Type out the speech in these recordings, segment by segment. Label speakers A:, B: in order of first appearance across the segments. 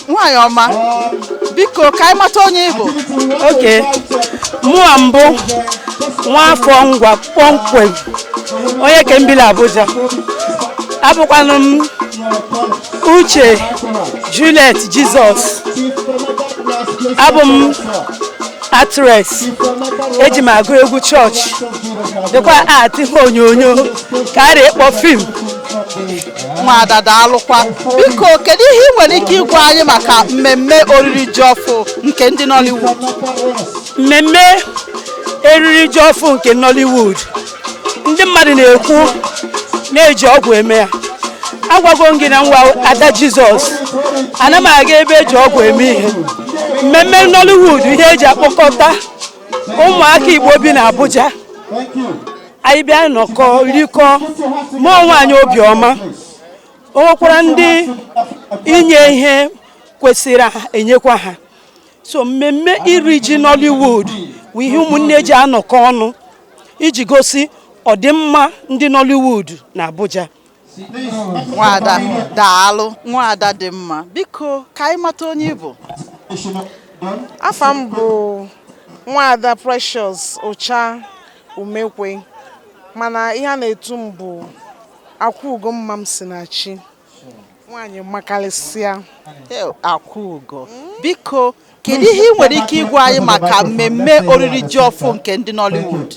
A: nwaanyị ọma biko ka anyị mata onye ị bụ
B: okay mụwa m bụ nwaafọ ngwa kpọmkwem onye ke m bi la abuja abụkwanụ m uche juliet jizọs abụ m actress eji m agụ egwu chọọchị dịkwa act ihe onyonyo ka a rị ịkpọ fim
A: nwada daalụkwa biko kedu ihe ị nwere ike ịgwa anyị maka mmemme oriri ji ọfụ nke ndị Nollywood mmemme
B: eriri ji ọfụ nke Nollywood ndị mmadụ na-ekwu na eji ọgwụ eme ya agwago m gị na mụwa ada Jizọs ana m aga ebe eji ọgwụ eme ihe mmemme Nollywood ihe eji akpọkọta ụmụaka Igbo bi na Abuja anyị bịa nọkọ rikọ mee onwe anyị obiọma o nwekwara ndị inye ihe kwesịrị enyekwa ha so mmemme iri ji Nollywood bụ ihe ụmụnne ji anọkọ ọnụ iji gosi ọdịmma ndị Nollywood na Abuja
A: nwada daalụ nwada dị mma biko ka anyị mata onye ị
C: bụ afa m bụ nwada Precious Ucha Umekwe mana ihe a na-etu m bụ akwa ugo mma m si na chi nwaanyị makarịsịa akwa
A: ugo biko Kedu ihe ị nwere ike ịgwa anyị maka mmemme oriri ji ọfụ nke ndị Nollywood?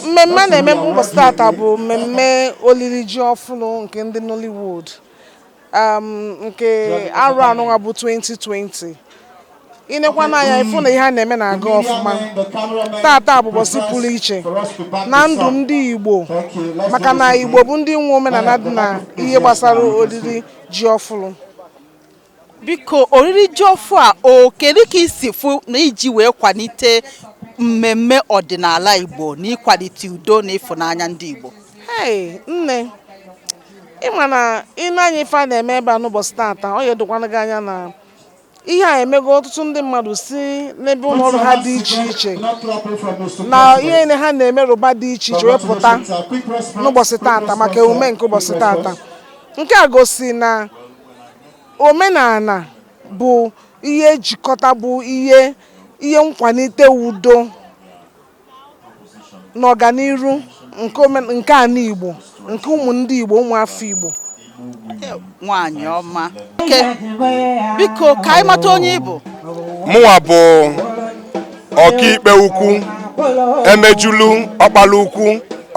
C: Mmemme a na-eme ụbọchị tata bụ mmemme oriri ji ọfụrụ nke ndị Nollywood um, nke arọ anụnwa bụ 2020 i nekwana anya ị fụ na ihe a na-eme na-aga ọfụma tata bụ ụbọchị pụrụ iche na ndụ ndị Igbo maka na Igbo bụ ndị nwe omenala dị na ihe gbasara oriri ji ọfụrụ
A: biko oriri ji ọfụ a o kedu ka i si fụ na e ji wee kwalite mmemme ọdịnala Igbo na ịkwalite udo na ịfụnanya ndị Igbo Hey, nne
C: ị ma na i nee anya ife a na-eme ebe a n'ụbọchị tata ọ ya edokwana gị anya na ihe a emego ọtụtụ ndị mmadụ si n'ebe ụlọ ọrụ ha dị iche iche na ihe ha na-emerụba dị iche iche wee pụta n'ụbọchị tata maka emume nke ụbọchị tata nke a gosi na omenala bụ ihe njikọta bụ ihe nkwalite udo na ọganiru nke ana Igbo nke ụmụ ndị Igbo ụmụ afọ
A: Igbo nwanyị ọma biko ka anyị mata onye ị bụ mụnwa bụ
D: ọkaikpe ukwu emejulu ọkpala ukwu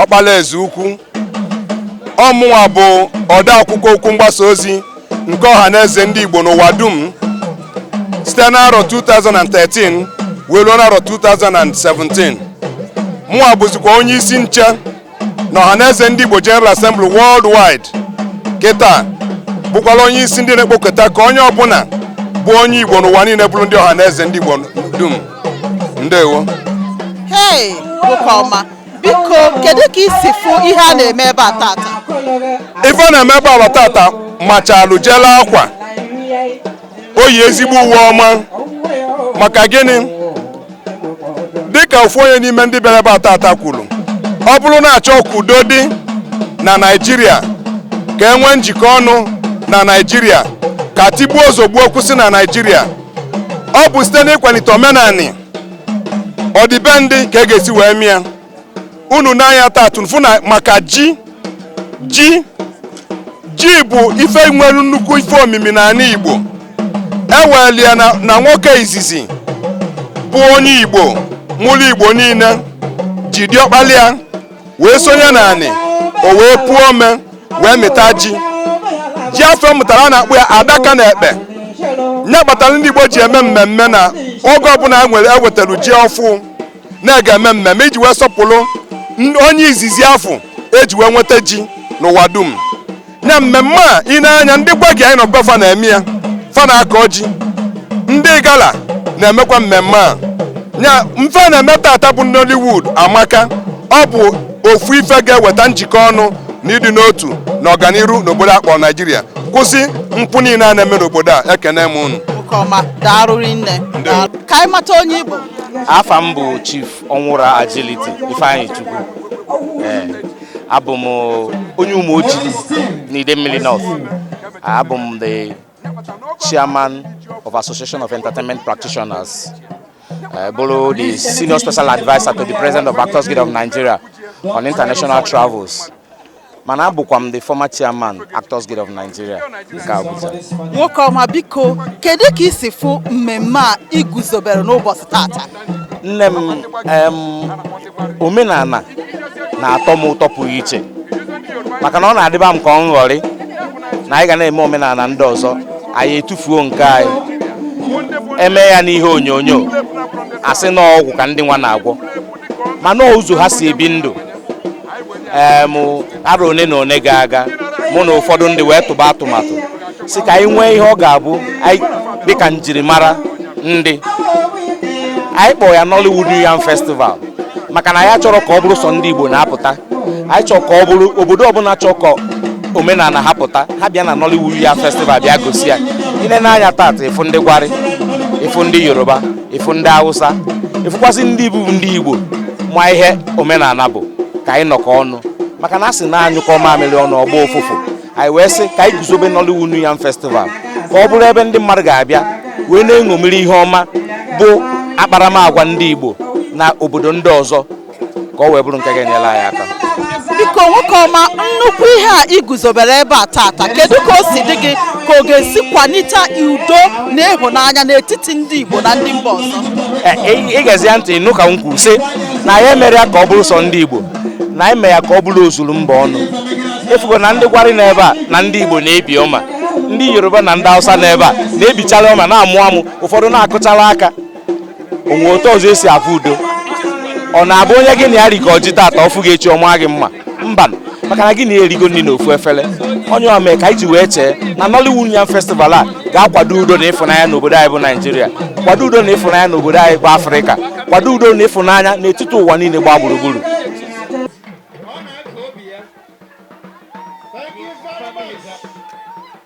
D: ọkpala eze ukwu ọ mụnwa bụ odeakwụkwọ okwu mgbasa ozi nke ọha na eze ndị Igbo n'ụwa dum site n'arọ 2013 wee ruo n'arọ 2017 mụnwa bụzikwa onye isi nche na ọhaneze ndị Igbo General Assembly worldwide kịta bụkwala onye isi ndị na-ekpokọta ka onye ọbụla bụ onye Igbo n'ụwa niile bụrụ ndị ọhaneze ndị Igbo dum ndewo
A: hey nwoke ọma biko kedu ka i si fụ ihe a na-eme ebe a tata ife
D: a na-eme ebe a tata machalụ jelu akwa o yi ezigbo uwe ọma maka gịnị dịka ofu onye n'ime ndị bịara ebe a tata kwuru ọ bụrụ na a chọọ ka udo dị na Naịjirịa ka e nwee njikọ ọnụ na Naịjirịa ka tigbuo zọgbuo kwụsị na Naịjirịa ọ bụ site n'ịkwalite omenani ọdịbendị ka e ga-esi wee mee ya unu nee anya tata unu afụ na maka ji ji ji bụ ife nwere nnukwu ife omimi n'anị Igbo e weli ya na nwoke izizi bụ onye Igbo mụlụ Igbo niile ji diọkpala ya wee sonye n'anị o wee puo ome wee mịta ji ji afụ ọ mụtara a na-akpọ ya adaka na ekpe nya kpatara ndị Igbo ji eme mmemme na oge ọbụla nwere e wetara ji ọfụ na e ga-eme mmemme iji wee sọpụrụ onye izizi afụ e ji wee nweta ji n'ụwa dum na mmemme a ị nee anya ndị Gbagyi anyị nọ be fa na-eme ya fa na-akọ ji ndị Igala na-emekwa mmemme a nya bụ ife a na-eme tata bụ Nollywood amaka ọ bụ ofu ife ga-eweta njikọ ọnụ na ịdị n'otu na ọganiru n'obodo a kpọ Naijiria kwụsị mpụ niile a na-eme n'obodo a ekene m unu ka anyị
A: mata onye ị bụ afa m
E: bụ chief ọnwụra agility ifeanyịchukwu ee abụ m onye Ụmụoji n'Idemili north abụ m the chairman of association of entertainment practitioners uh, bụlụ the senior special adviser to the president of actors guild of nigeria on international travels mana abụkwa m the former chairman Actors Guild of Nigeria nke
A: Abuja nwoke ọma biko kedu ka i si fụ mmemme a e guzobere n'ụbọchị tata nne m
E: omenala na-atọ m ụtọ pụrụ iche maka na ọ na-adịba m ka ọ nghọrị na anyị ga na-eme omenala ndị ọzọ anyị etufuo nke anyị eme ya n'ihe onyonyo a sị na ọgwụ ka ndị nwa na-agwọ mana ụzọ ha si ebi ndụ ee m arọ one na one gara aga mụ na ụfọdụ ndị wee tụba atụmatụ sị ka anyị nwee ihe ọ ga-abụ dịka njirimara ndị anyị kpọọ ya Nollywood New Yam Festival maka na anyị achọrọ ka ọ bụrụ sọ ndị Igbo na-apụta anyị chọrọ ka ọ bụrụ obodo ọbụla chọọ ka omenala ha pụta ha bịa na Nollywood New Yam Festival bịa gosi ya i lee anya tata ị fụ ndị Gwari ị fụ ndị Yoruba ị fụ ndị Hausa ị fụkwazị ndị bụ ndị Igbo ma ihe omenala bụ ka anyị nọkọ ọnụ maka na a sị na a nyụkọọ mamịrị ọnụ ọ gbaa ụfụfụ anyị wee sị ka anyị guzobe Nollywood New Yam Festival ka ọ bụrụ ebe ndị mmadụ ga-abịa wee na-eṅomiri ihe ọma bụ akparamagwa ndị Igbo na obodo ndị ọzọ ka ọ wee bụrụ nke ga-enyere anyị aka biko
A: nwoke ọma nnukwu ihe a i guzobere ebe a tata kedu ka o si dị gị ka ọ ga-esi kwalite udo na ịhụnanya n'etiti ndị Igbo na ndị mba ọzọ i gezie ya
E: ntị ị nụ ka m kwuru sị na anyị emere ya ka ọ bụrụ sọ ndị Igbo na anyị mere ya ka ọ bụrụ ozuru mba ọnụ ị fụgo na ndị Gwari nọ ebe a na ndị Igbo na-ebi ọma ndị Yoruba na ndị Hausa nọ ebe a na-ebichara ọma na-amụ amụ ụfọdụ na-akụchara aka o nwee otu ọzọ e si afụ udo ọ na-abụ onye gị na ya rikọọ ji tata ọ fụ gị echi ọ maa gị mma mba maka na gị na ya erigo nri na ofu efere ọ ya mee ka anyị ji wee chee na Nollywood Yam Festival a ga-akwado udo na ịfụnanya n'obodo anyị bụ Naijiria kwado udo na ịfụnanya n'obodo anyị bụ Afrịka kwado udo na ịfụnanya n'etiti ụwa niile gbaa gburugburu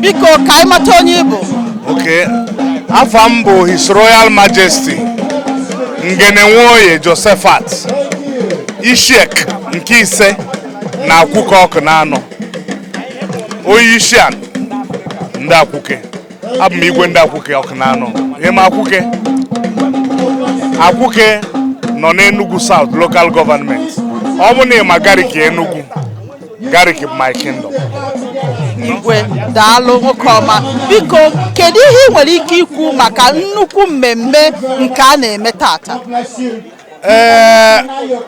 A: biko ka anyị mata onye ị bụ Okay.
F: Afa m bụ His Royal Majesty Ngene Nwoye Josephat Ishiek nke ise na Akwụke Ọkụnanọ onye isi ana ndị Akwụke abụ m igwe ndị Akwụke Ọkụnanọ ị ma Akwụke Akwụke nọ n'Enugu South local government ọ bụ na ị ma Gariki Enugu Gariki bụ my kingdom
A: igwe daalụ nwoke ọma biko kedu ihe ị nwere ike ikwu maka nnukwu mmemme nke a na-eme tata ee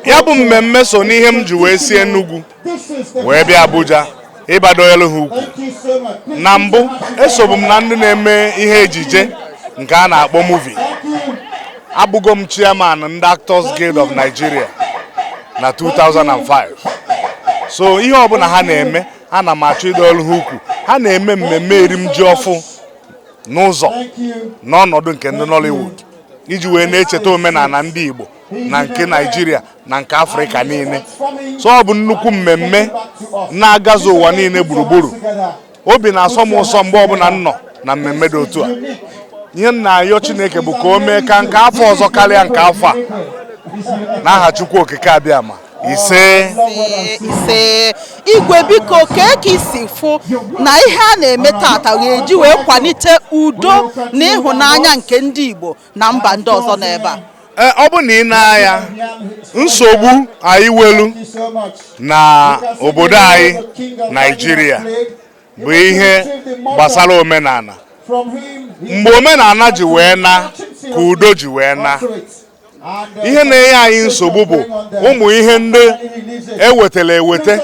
F: ya bụ mmemme so n'ihe m ji wee si Enugu wee bịa Abuja ịbịa dọnyelu ha ukwu na mbụ esobu m na ndị na-eme ihe ejije nke a na-akpọ movie abụgo m chairman ndị Actors Guild of Nigeria na 2005 so ihe ọbụla ha na-eme ana m achọ ịdọnyelu ha ukwu ha na-eme mmemme erim ji ọfụụ n'ụzọ n'ọnọdụ nke ndị Nollywood iji wee na-echeta omenala ndị Igbo na nke naijiria na nke afrịka niile so ọ bụ nnukwu mmemme na-agazu ụwa niile gburugburu obi na-asọ m ụsọ mgbe ọbụla m nọ na mmemme dị otu a ihe m na-ayọ chineke bụ ka o mee ka nke afọ ọzọ karịa nke afọ a n'aha chukwu okike abịama ise
A: ise igwe biko kee ka i si fụ na ihe a na-eme tata ga-eji wee kwalite udo na ịhụnanya nke ndị Igbo na mba ndị ọzọ nọ ebe a eh, ọ bụ na i nee
F: anya nsogbu anyị welu na obodo anyị Naijiria bụ ihe gbasara omenala mgbe omenala ji wee naa ka udo ji wee naa ihe na-enye anyị nsogbu bụ ụmụ ihe ndị e wetara ewete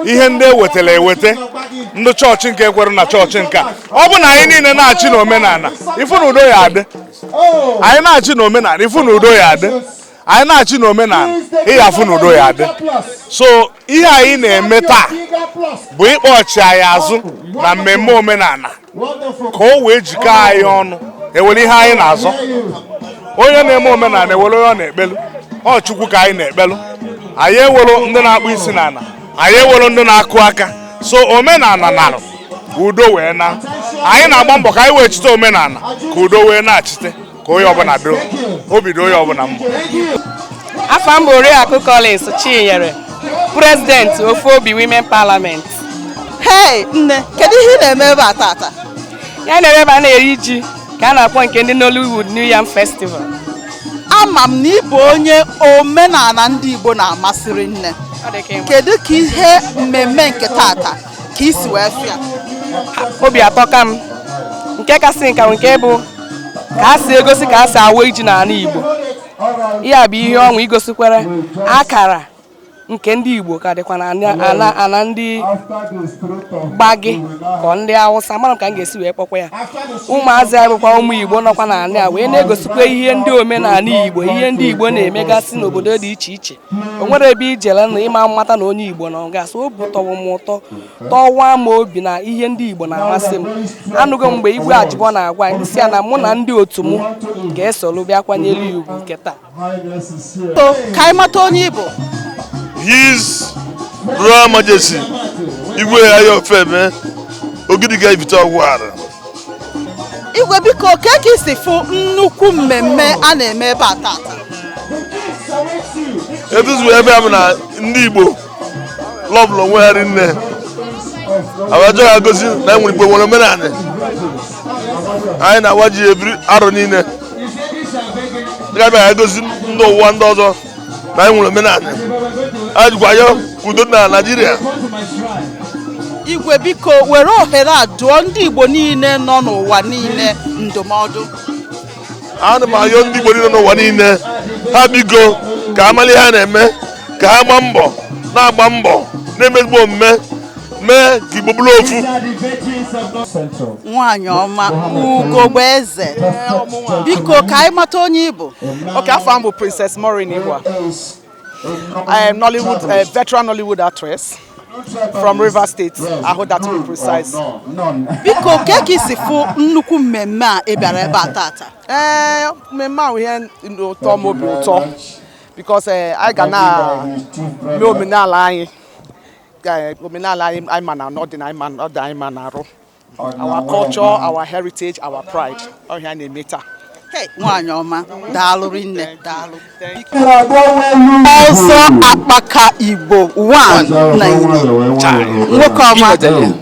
F: ihe ndị e wetara ewete ndị chọọchị nke ekwere na chọọchị nke a ọ bụ na anyị niile naachi na omenala ị fụ na udo ya-adị anyị naachi na omenala ị fụ na udo ya-adị anyị naachi na omenala ị ya-afụ na udo ya-adị so ihe anyị na-eme taa bụ ịkpọchi anyị azụ na mmemme omenala ka o wee jikọ anyị ọnụ ewere ihe anyị na-azọ onye na-eme omenala ewere onye ọ na-ekpelu ọ chukwu ka anyị na-ekpelu anyị ewere ndị na-akpụ isi n'ala anyị ewere ndị na-akụ aka so omenala narụ udo wee naa anyị na-agba mbọ ka anyị wechite omenala ka udo wee nachite ka onye ọbụla doo obi dị onye ọbụla mma
G: afa m bụ Oriakụ Collins Chinyere prezidenti ofu obi women parliament hei
A: nne kedu ihe ị na-eme ebe a tata anyị nọ
G: ebe a na-eri ji ka a na-akpọ nke ndị Nollywood New Yam Festival
A: ama m na ị bụ onye omenala ndị Igbo na-amasịrị nne kedu ka ihe mmemme nke tata ka i si wee fụ ya
G: obi atọka m nke kasị nka nke bụ ka a si egosi ka a si awa iji n'ala Igbo ihe a bụ ihe ọṅụ igosikwara akara nke ndị Igbo ka dịkwa n'ana ndị Gbagyi ka ọ ndị Awụsa amarọ m ka m ga-esi wee kpọkwa ya ụmụazị anyị bụkwa ụmụ Igbo nọkwa n'ana a wee na-egosikwa ihe ndị omenala Igbo ihe ndị Igbo na-emegasị n'obodo dị iche iche o nwere ebe i jele na ị ma amata na onye Igbo nọ gasị obi tọrọ m ụtọ tọwa m obi na ihe ndị Igbo na-amasị m anụgo mgbe Igwe Ajịbọ na-agwa anyị sị ya na mụ na ndị otu m ga-esoro bịa kwanyere ya ugwu nke taa
A: ka anyị mata onye ị bụ
H: his royal majesty igwe ayọfeme ogidiga ibite ọgwara
A: igwe biko kee ka i si fụ nnukwu mmemme a na-eme ebe a
H: tata etuzuo ebe a bụ na ndị igbo lọbụlụ onwe ha rinne abajọ ha gosi na enwere igbo nwere omenala anyị na-awa ji every arọ niile dịka bịara egosi ndị ụwa ndị ọzọ na anyị nwere omenala anyị jikwa ya kwudo na
A: naijiria igwe biko were ohere a dụọ ndị igbo niile nọ n'ụwa niile ndụmọdụ
H: ana m ayọ ndị Igbo niile nọ n'ụwa niile ha biko ka ha malụ ihe ha na-eme ka ha gbaa mbọ na-agba mbọ na-eme ezigbo omume mee ka Igbo bụrụ
A: ofu nwaanyị ọma ugogbe eze biko ka anyị mata onye ị bụ okay afa m bụ
I: Princess Maureen Ihua I am Nollywood, a veteran Nollywood actress from Rivers State, Ahoada to be precise. Biko,
A: kee ka i si fụ nnukwu mmemme a ị bịara ebe a tata? Ee, eh,
I: mmemme a bụ ihe tọrọ m obi ụtọ because eh, anyị ga na-eme omenala anyị eh, omenala anyị ma na ọdịnala anyị ma na arụ. our culture our heritage our pride ọ ihe anyị na-eme taa nwaanyị
A: ọma daalụ rinne daalụ ọzọ akpaka igbo nwoke ọma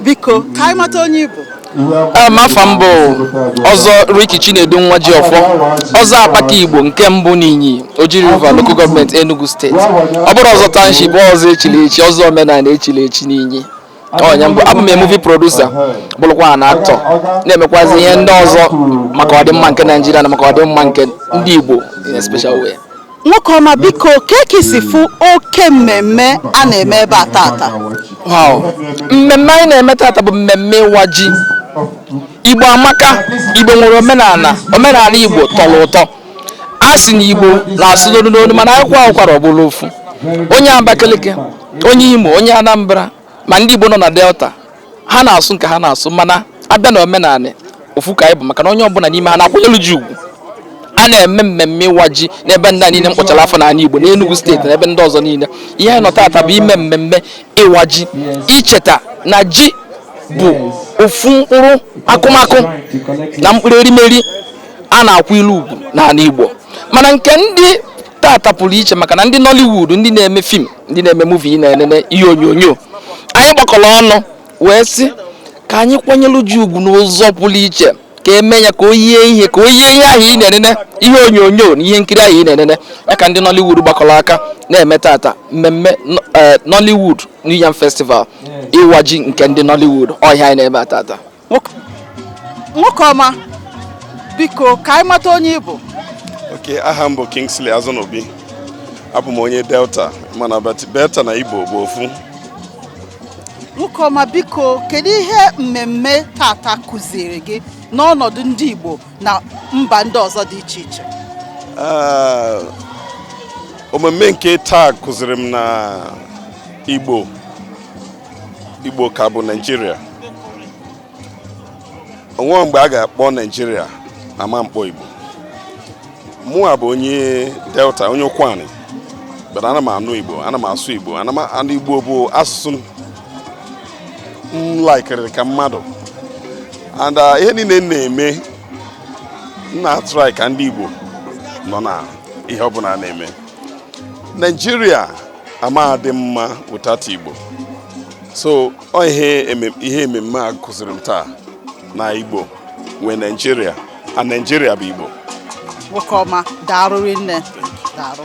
A: biko ka anyị mata onye ị bụ
J: afa m bụ ọzọ Ricky Chinedu Nwajiọfọ ọzọ akpaka Igbo nke mbụ n'Inyi Oji River Local Government Enugu Steeti ọ bụrọ ọzọ township ọzọ echiri echi ọzọ omenala echiri echi n'Inyi onye mbụ abụ m a movie producer bụrụkwa an actor na-emekwazi ihe ndị ọzọ maka ọdịmma nke naijiria na maka ọdịmma nke ndị igbo in a special way nwoke ọma
A: biko kee ka i si fụ oke mmemme a na-eme ebe a tata
J: wow mmemme anyị na-eme tata bụ mmemme ịwa ji igbo amaka igbo nwere omenala omenala igbo tọrọ ụtọ a sị na igbo na-asụ n'olu n'olu mana a kwaa ụkwara ọ bụrụ ofu onye abakaliki onye imo onye anambra ma ndị igbo nọ na delta ha na-asụ nke ha na-asụ mana a bịa na omenala ofu ka anyị bụ maka na onye ọbụla n'ime ha na-akwanyelu ji ugwu a na-eme mmemme ịwa ji n'ebe ndị niile m kpọchara afa n'ala Igbo n'Enugu steeti na ebe ndị ọzọ niile ihe anyị nọ tata bụ ime mmemme ịwa ji icheta na ji bụ ofu mkpụrụ akụmakụ na mkpụrụ erimeri a na-akwanyelu ugwu n'ala Igbo mana nke ndị tata pụrụ iche maka na ndị Nollywood ndị na-eme film ndị na-eme movie na-enene ihe onyonyo anyị gbakọrọ ọnụ wee sị ka anyị kwanyere ji ugwu n'ụzọ pụrụ iche ka e mee ya ka o yie ihe ka o yie ihe ahụ ị na-enene ihe onyonyo na ihe nkiri ahụ ị na-enene ya ka ndị Nollywood gbakọrọ aka na-eme tata mmemme e, Nollywood New Yam Festival ịwa ji nke ndị Nollywood ọ ihe anyị na-eme tata
A: nwoke ọma biko ka anyị mata onye ị bụ okay
H: aha m bụ Kingsley Azunobi abụ m onye Delta mana Delta na Igbo bụ ofu
A: nwoke ọma biko kedu ihe mmemme tata kụziri gị n'ọnọdụ ndị Igbo na mba ndị ọzọ dị iche iche ah,
D: ememme nke taa kụziri m na Igbo Igbo ka bụ Naijiria o nwe mgbe a ga-akpọ Naijiria ama mkpọ Igbo mụa bụ onye Delta onye Ụkwani but ana m anụ Igbo ana m asụ Igbo and Igbo bụ asụsụ m laikiri ka mmadụ and uh, ihe niile m na-eme m na-atrai ka ndị Igbo nọ na ihe ọbụla a na-eme Naijiria ama dị mma without Igbo so ọ ihe eme- ihe ememme a kụziri m taa na Igbo nwe Naijiria
A: and
D: Naijiria bụ
A: Igbo nwoke ọma daarụ
D: rinne daarụ